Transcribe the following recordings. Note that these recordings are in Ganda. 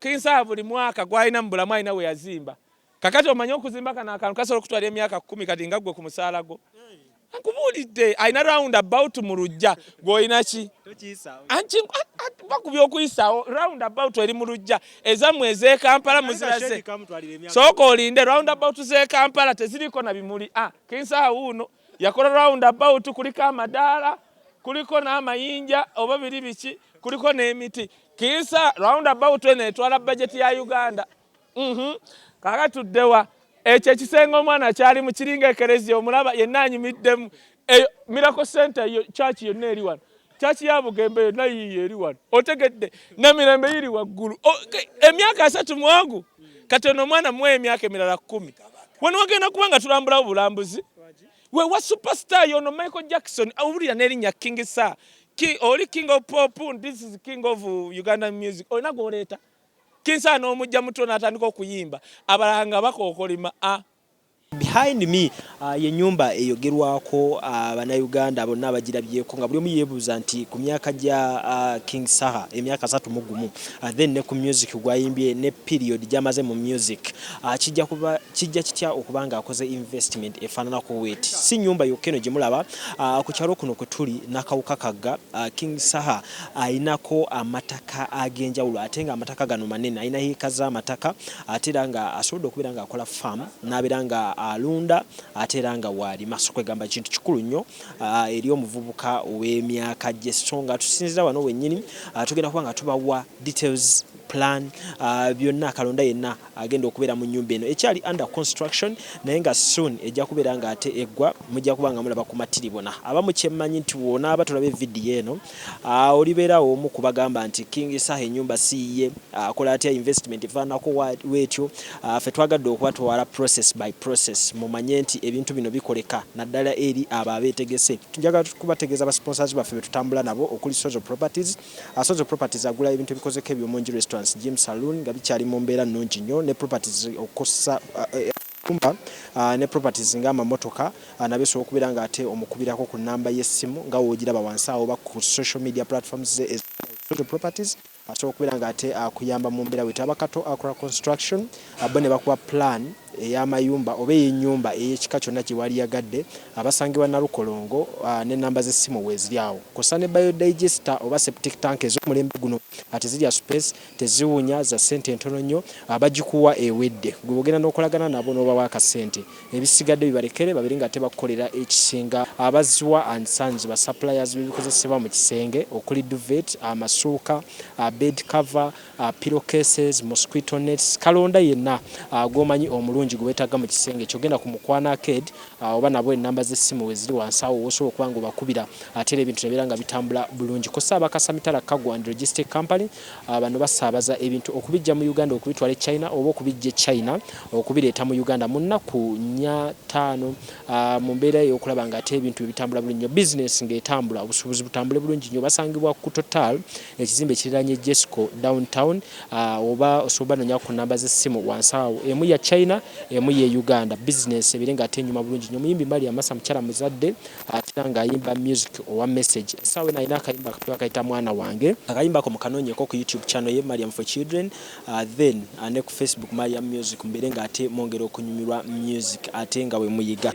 kinsaba buli mwaka gwalina mu bulamu alina we yazimba kakati omanye okuzimba kano akantu kasobola okutwala emyaka kumi kati nga ggwe ku musaala gwo nkubuulidde alina round about mu lujja gwolina ki bakubyokuyisaawo round about eri mu lujja ezammwe ez'e Kampala muziraze. Sooka olinde round about z'e Kampala teziriko na bimuli. Ah, Kinsaha wuuno yakola round about kuliko amadaala kuliko n'amayinja oba biri biki kuliko n'emiti. Kinsa round about eno etwala bajeti ya Uganda. Mhm. Kaaka tuddewa. Ekyo ekisenge omwana kyali mu kiringa ekereziya omulaba yenna anyumiddemu. Eyo Miracle Center yo church yonna eri wano. Church ya Bugembe yonna yiyo eri wano. Otegedde na mirembe yiri waggulu. Emyaka asatu mwangu. Kati ono omwana muwe emyaka emirala kkumi. Wano wagenda kuba nga tulambulawo bulambuzi. We wa superstar yono Michael Jackson awulira n'erinnya King Sir. Ki, oli King of Pop, this is King of Ugandan music. Olina gw'oleeta. Kinsana nomujja mutulo natandika okuyimba abalala nga bakokolima a. Behind me uh, ye nyumba eyogerwako uh, banauganda bonna abagirabyeko nga buli omu yebuuza nti ku myaka gya uh, King Saha emyaka asatu mu gumu uh, then ne ku music gwayimbye ne period gyamaze mu music uh, kijja kuba kijja kitya okuba nga akoze investment efaananako wet si nyumba yokka eno gye mulaba uh, ku kyalo kuno kwe tuli nakawuka kagga uh, King Saha alinako amataka agenjawulo ate nga amataka gano manene alina yiika zamataka ate era nga asobodde okubeera nga akola farm nabeera nga alunda ate era nga waalima so kwegamba kintu kikulu nnyo ah, eri omuvubuka ow'emyaka gye so nga tusinzira wano wennyini ah, tugenda kuba nga tubawa details plan ah, byonna kalonda yenna agenda okubeera mu nyumba eno ekyali under construction naye nga soon ejja kubeera nga ate eggwa mujja kuba nga mulaba ku matiribona abamu kyemmanyi nti wonaaba tulabe vidiyo eno ah, olibeerawo omu kubagamba nti king saha enyumba siiye ah, akola atya investment efaanako weetyo ah, fe twagadde okubatwala process by process mumanye nti ebintu bino bikoleka naddala eri abo abeetegese njagala kubategeeza ba sponsors baffe betutambula nabo okuli sozo properties Asozo Properties agula ebintu ebikozeko eby'omunju, restaurants, gym, saloon nga bikyali mu mbeera nnungi nnyo ne properties okussa amayumba ne properties nga amamotoka nabyo osobola okubeera nga ate omukubirako ku nnamba y'essimu nga w'ogiraba wansi awo oba ku social media platforms ze eza Asozo Properties asobola okubeera nga ate akuyamba mu mbeera wetaba kato akora construction bo ne bakuwa plan ey'amayumba oba ey'ennyumba ey'ekika kyonna gye waliyagadde abasangibwa Nalukolongo n'ennamba z'essimu weeziri awo kw'ossa ne Biodigester oba Septic Tank ez'omulembe guno nga tezirya supeesi, teziwunya, za ssente ntono nnyo, abagikuwa ewedde ggwe bw'ogenda n'okolagana nabo n'obawa akasente ebisigadde bibalekere babeere ng'ate bakukolera ekisinga abaziwa and Sons ba suppliers b'ebikozesebwa mu kisenge okuli duvet, amasuuka, bed cover, pillow cases, mosquito nets, kalonda yenna gwomanyi omulungi gwe wetagga mu kisenge kyo. Genda ku mukwano arcade oba nabo ennamba z'essimu weziri wansi awo wosobola okuba nga obakubira ate era ebintu ne beera nga bitambula bulungi. Kossa aba Kasamitala Cargo and Logistic Company bano basaabaza ebintu okubijja mu Uganda okubitwala e China oba okubijja e China okubireeta mu Uganda mu nnaku nnya, ttaano mu mbeera ey'okulaba nga ate ebintu bye bitambula bulungi nnyo, bizinensi ng'etambula, obusuubuzi butambule bulungi nnyo. Basangibwa ku Total. Ekizimbe kiriraanye Jesco Down Town oba osobola banonyako ku namba z'essimu wansi awo. Emu ya China, emu y'e Uganda. Bizinensi ebeere nga ate enyuma bulungi nnyo. Omuyimbi Maria Massa mukyala muzadde ate era ng'ayimba music owa Message. Essaawa eno alina akayimba akapya akayita Mwana wange. Akayimba ako mukanoonyeko ku YouTube channel ye Mariam for Children then ne ku Facebook Mariam Music mubeere nga ate mwongera okunyumirwa music ate nga bwe muyiga.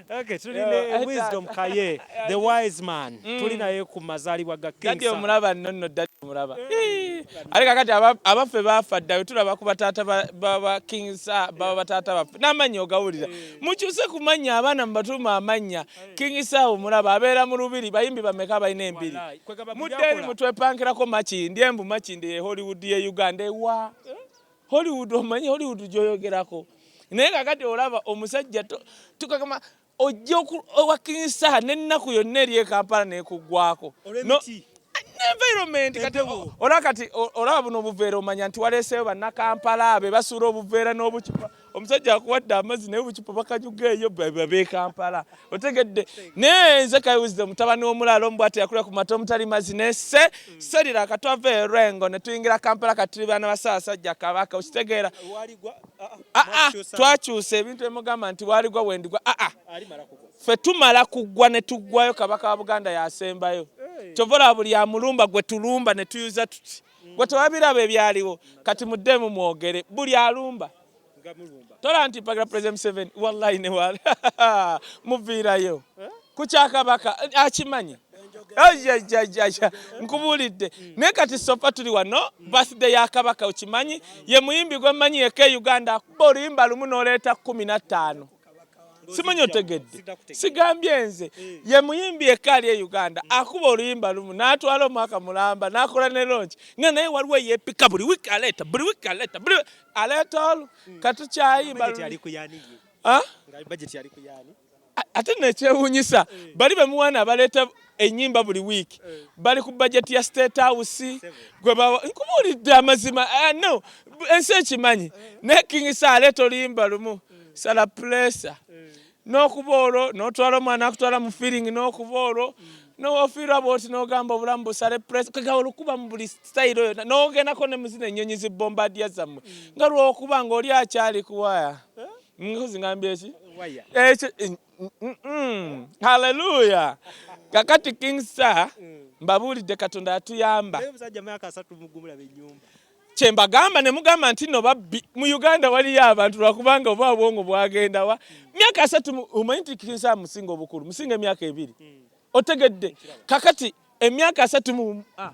Okay, tuli ne wisdom kaye the wise man mm. tuli naye ku mazalibwa ga king dadi omulaba nonno dadi omulaba eh. ali kakati abaffe bafa ddawe tulaba ku bataata baba king sa baba bataata baffe n'amannya ogawulira eh. mukyuse ku mannya abaana mubatuuma amannya eh. king sa omulaba abeera mu lubiri bayimbi bameka balina embiri mudde eri mutwepankirako makindi embu makindi ye hollywood ye uganda ewa Hollywood omanyi Hollywood gyoyogerako naye kakati olaba omusajja tukakama ojja owakinyisa n'ennaku yonna eri ekampala nekuggwako environment kati olaba kati olaba buno obuveera omanya nti waleeseyo bannakampala be basuula obuveera n'obucupa omusajja akuwadde amazzi naye obucupa bakanyuga eyo bekampala otegedde naye nze kayiwuzido mutabani w'omulaalo omu bwati yakulira ku mata omutali mazzi nese hmm. serira akatwava erwengo ne tuyingira kampala katuli baana basaasajja kabaka okitegeera ah, ah. aa ah, twakyusa ebintu emugamba nti waaligwa wendigwa aa fe tumala kuggwa ne tuggwayo kabaka wa buganda yasembayo kyova olaba buli amulumba gwe tulumba ne tuyuza tuti hmm. gwe tewabiraba ebyaliwo kati muddemu mwogere buli alumba tola nti mpagala president museveni wallahi newala muviirayo eh? kukyakabaka akimanyi ajajajaja nkubuulidde naye kati sofa tuli wano birthday ya kabaka okimanyi ye muyimbi gwe mmanyi yeka e uganda akuba oluyimba lumu n'oleeta kumi na ttaano simanyi otegedde sigambye nze eh. ye muyimbi yekka ali e uganda hmm. akuba oluyimba lumu n'atwala omwaka mulamba n'akola ne longi nga naye waliwo yeepika buli wiiki aleeta buli wiiki aleeta buli aleeta olu hmm. katukyayimba ate nekyewunyisa eh. bali bemuwana abaleeta enyimba buli week eh. bali ku budget ya state house gwe bawa nkubuulidde amazima eh, no ensi ekimanyi eh. naye king sale tolimba lumu sala pulesa n'okuba olwo n'otwala omwana akutwala mu feeling n'okuba olwo mm. nowofiirwa bwoti nogamba obulamu busale pres kega olukuba mu buli sitayiro yona nogendako ne muzina ennyonyi zibombadia zammwe mm. nga lwokuba ngaoli akyali kuwaya nkozi ngambye ki ekyo Mm-mm. haleluya kakati king star mm. mbabuulidde katonda yatuyamba kyembagamba nemugamba nti no babbi mu uganda waliyo abantu lwakubanga oba obwongo bwagendawa mm. myaka asatu omanyi nti king star musinga obukulu musinga emyaka ebiri mm. otegedde kakati emyaka asatu mu ah.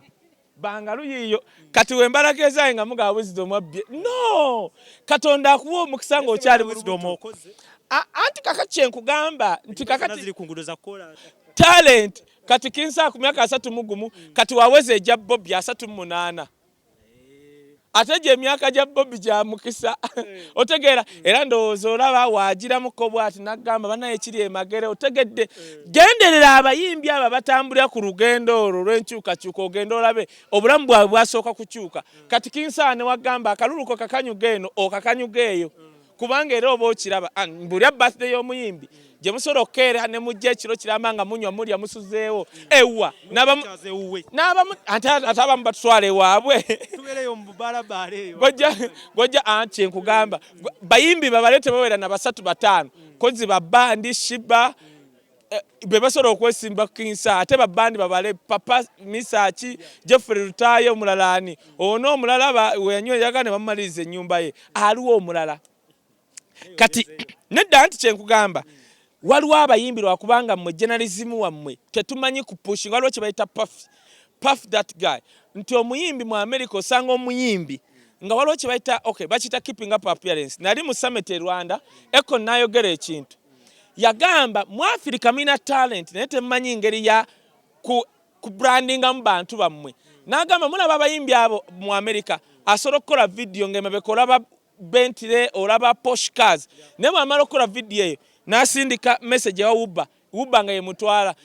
Bangalu yiyo kati wembalaga ezaye nga muga wisdom abbye no katonda akuwa omukisa nga okyali wisdom oko anti kaka kyenkugamba nti kaka ziri ku ngudo za kola talent kati kinsa ku myaka asatu mugumu kati waweze eja bobi asatu munana eh. ate gye emyaka gya bobi gya mukisa eh. otegeera mm. era ndowooza olaba waagiramuko bwati nagamba banaye kiri emagere otegedde eh. genderera abayimbi abo batambulira ku lugendo olwo lw'enkyukakyuka ogenda olabe obulamu bwabwe bwasooka kukyuka mm. kati kinsaane wagamba akaluluko kakanyuga eno okakanyuga eyo mm. kubanga era oba okiraba ah, mbulya birthday y'omuyimbi gye musobola okukeera ne mujja ekiro kiramba nga munywa mulya musuzeewo ewa ate abamu batutwala ewaabwe gojja ah, kyenkugamba bayimbi babale tebawera na basatu bataano kozi babandi shiba eh, bebasobola okwesimba kinsa ate babandi babale papa misaki jeffrey lutaye omulala ani ono omulala weyanywa eyaga ne bamumaliriza ennyumba ye aliwo omulala kati nedda nti kyenkugamba waliwo abayimbi lwakubanga mmwe jenalizimu wammwe tetumanyi kupushinga waliwo kyebayita pafi puff that guy nti omuyimbi mu america osanga omuyimbi nga waliwo kyebayita okay bakiyita keeping up appearance nali mu summit e rwanda eko nayogera ekintu yagamba mu afirika mulina talenti naye temumanyi ngeri ya ku, ku brandingamu bantu bammwe n'agamba mulaba abayimbi abo mu amerika asobola okukola vidiyo ng'emabeka olaba bentire olaba poshcars naye bwamala okukola vidiyo eyo n'asindika message ewa wuba wuba nga yemutwala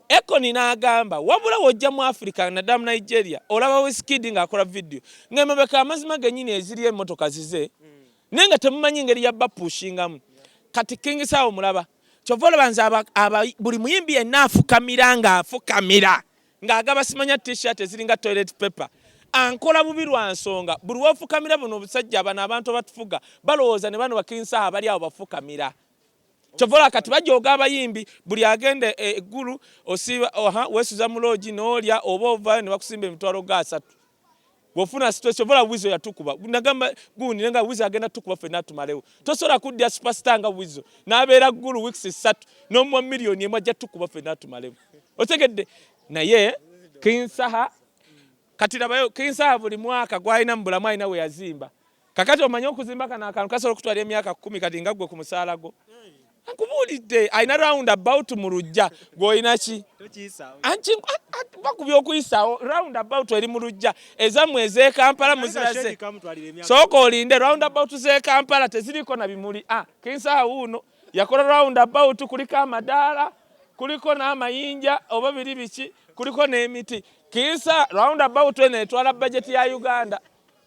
ekoni n'agamba wabula wojja mu afirika naddala mu nigeria olaba wiskidi ng'akola vidiyo ng'emabeka amazima gennyini eziri emmotoka zize mm. naye nga temumanyi ngeri ya bapushingamu kati king sawa omulaba kyova olaba nze buli muyimbi yenna afukamira nga afukamira nga agaba simanya tshirt eziringa toilet paper ankola bubi lwa nsonga buli wofukamira buno obusajja abano abantu abatufuga balowooza ne bano bakinsaha bali awo bafukamira kyovola kati bajoga abayimbi buli agenda e, e, eggulu osiba wesuza muloogi noolya oba ovayo ne bakusimba emitwalo ga asatu wofuna stress ovola wizo yatukuba nagamba gundi nenga wizo agenda tukuba fena tumalewo tosola kudya superstar nga wizo nabera gulu weeks 3 no mu million emwa ja tukuba fena tumalewo otegedde naye kinsaha kati labayo kinsaha buli mwaka gwalina mbulamu alina we yazimba kakati omanye okuzimba kano akantu kasobola okutwala emyaka kumi kati nga ggwe ku musaala gwo nkubuulidde alina round about mu lujja gwolina ki bakubya okuyisaawo round about eri mu lujja ezammwe ezekampala muziraze sooka olinde round about zekampala teziriko na bimuli a ah, kinsaha wuuno yakola round about kuliko amadaala kuliko n'amayinja oba biri biki kuliko n'emiti kinsa round about eno etwala bajeti ya uganda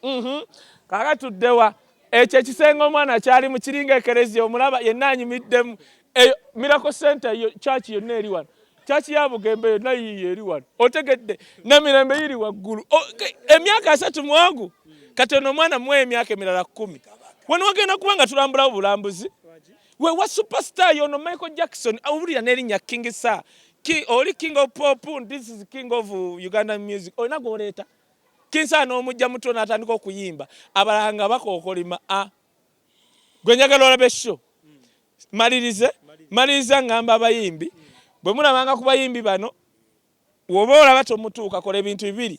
Mhm. Kaaka tuddewa ekyo ekisenge omwana kyali mu kiringa ekereziya omulaba yenna anyumiddemu eyo mirako center yo kyaki yonna eri wano kyaki ya bugembe yonna yiiyo eri wano otegedde namirembe yiri waggulu emyaka asatu mwangu kati ono omwana muwa emyaka emirala kkumi wano wagenda kuba nga tulambulawo bulambuzi wewa superstar yono michael jackson awulira nerinnya king sa ki oli king of pop this is king of uganda music olina gwoleeta Kinsana n'omujja mutulo n'atandika okuyimba abalala nga bakookolima a ah. gwe njagala olabe sho malirize maliriza ngamba abayimbi bwe mulabanga ku bayimbi bano woba olaba tomutuuka kola ebintu bibiri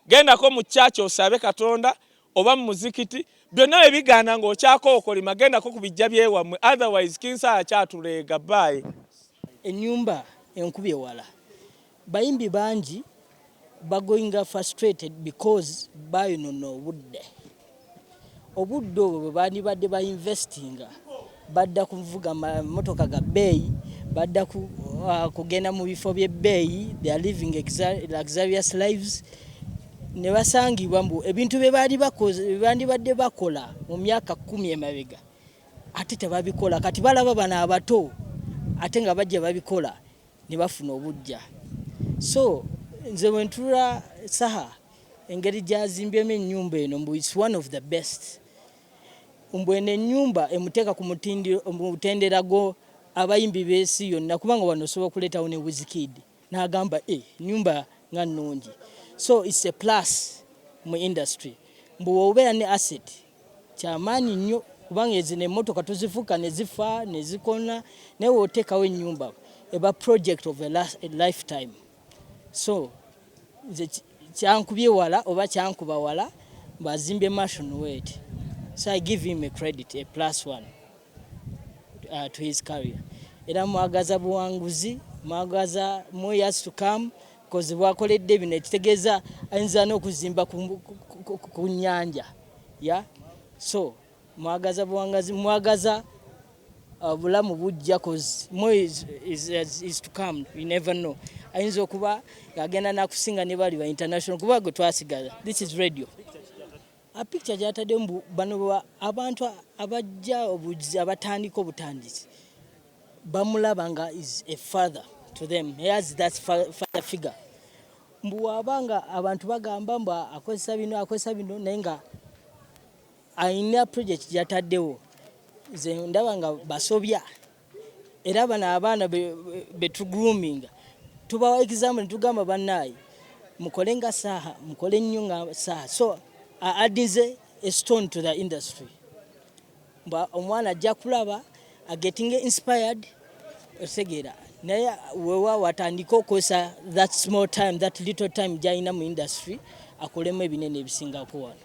gendako mu kyaki osabe katonda oba mu muzikiti byonna bye bigaana ng'okyakookolima gendako ku bijja byewammwe otherwise kinsala kyatuleega baayi ennyumba enkubye wala Bayimbi bangi bagoinga frustrated because bayonona obudde. Obudde obwo bwebandibadde ba investinga badda kuvuga motoka ga beeyi, badda ku, uh, kugenda mu bifo by'ebbeeyi, they are living luxurious lives ne basangibwa mbu ebintu bye baali bandibadde bakola mu myaka kkumi emabega ate tebabikola kati balaba bano abato ate nga bajja babikola ne bafuna obuggya so nze wentula saha engeri gyazimbyemu ennyumba eno mbu its one of the best mbu eno ennyumba emuteeka ku mutendera gwo abayimbi b'ensi yonna kubanga wano osobola okuleetawo ne wizkid n'agamba e eh, nyumba nga nnungi so its a plus mu industry mbu obeera ne asset kyamaanyi nnyo kubanga ezino emotoka tuzifuka nezifa nezikona naye wotekawo enyumba eba project of a lifetime so nze kyankubye wala oba kyankuba wala mbazimbe mashon wet so i give him a credit a plus one uh, to his career era mwagaza buwanguzi mwagaza moyas to come kozi bwakoledde bino ekitegeeza ayinza n'okuzimba ku nnyanja ya so mwagaza buwangazi mwagaza uh, bulamu bujja kozi ayinza okuba agenda nakusinga ne bali ba international kuba gwe twasigaza this is radio A picture gyatadde mbu bano abantu abajja obuzi abatandika obutandisi bamulaba nga is a father to them he has that father figure mbu waba nga abantu bagamba mbu akozesa bino akozesa bino naye nga alina project gyataddewo nze ndaba nga basobya era bano abaana betu grooming tubawa exam netugamba banaye mukole nga saha mukole nnyo nga saha so addinze a stone to the industry mba omwana ajja kulaba agetting inspired otegeera naye wewa watandika okozesa that small time that little time gyalina mu industry akolemu ebinene ebisingako wano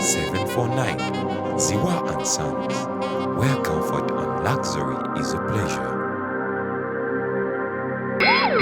749 Ziwa and Sons, where comfort and luxury is a pleasure.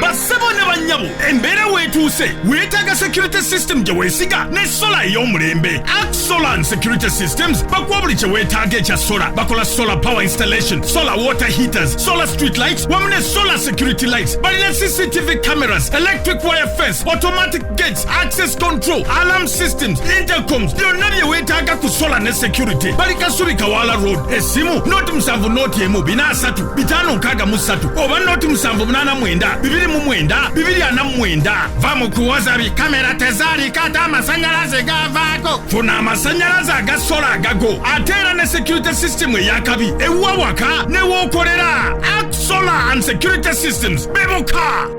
bassebo ne bannyabo embeera weetuuse weetaaga security system gye weesiga ne sola ey'omulembe ak solan security systems bakuwa buli kye weetaaga ekya sola bakola solar power installation solar water heaters solar street lights wamu ne solar security lights balina cctv cameras electric wire fence automatic gates access control alarm systems intercoms byonna bye weetaaga ku sola ne security bali kasubi kawaala road essimu noti musanvu noti emu bina asatu bitaano nkaaga mu ssatu oba noti musanvu munaana mwenda bibiri mu mwenda bibiri ana mu mwenda va mu kuwoza bi kamera tezaalika ate amasanyalaze gavaako funa amasanyalaze aga sola agago ate era ne security system eyakabi ewuwa waka newookolera ak solar and security systems bemuka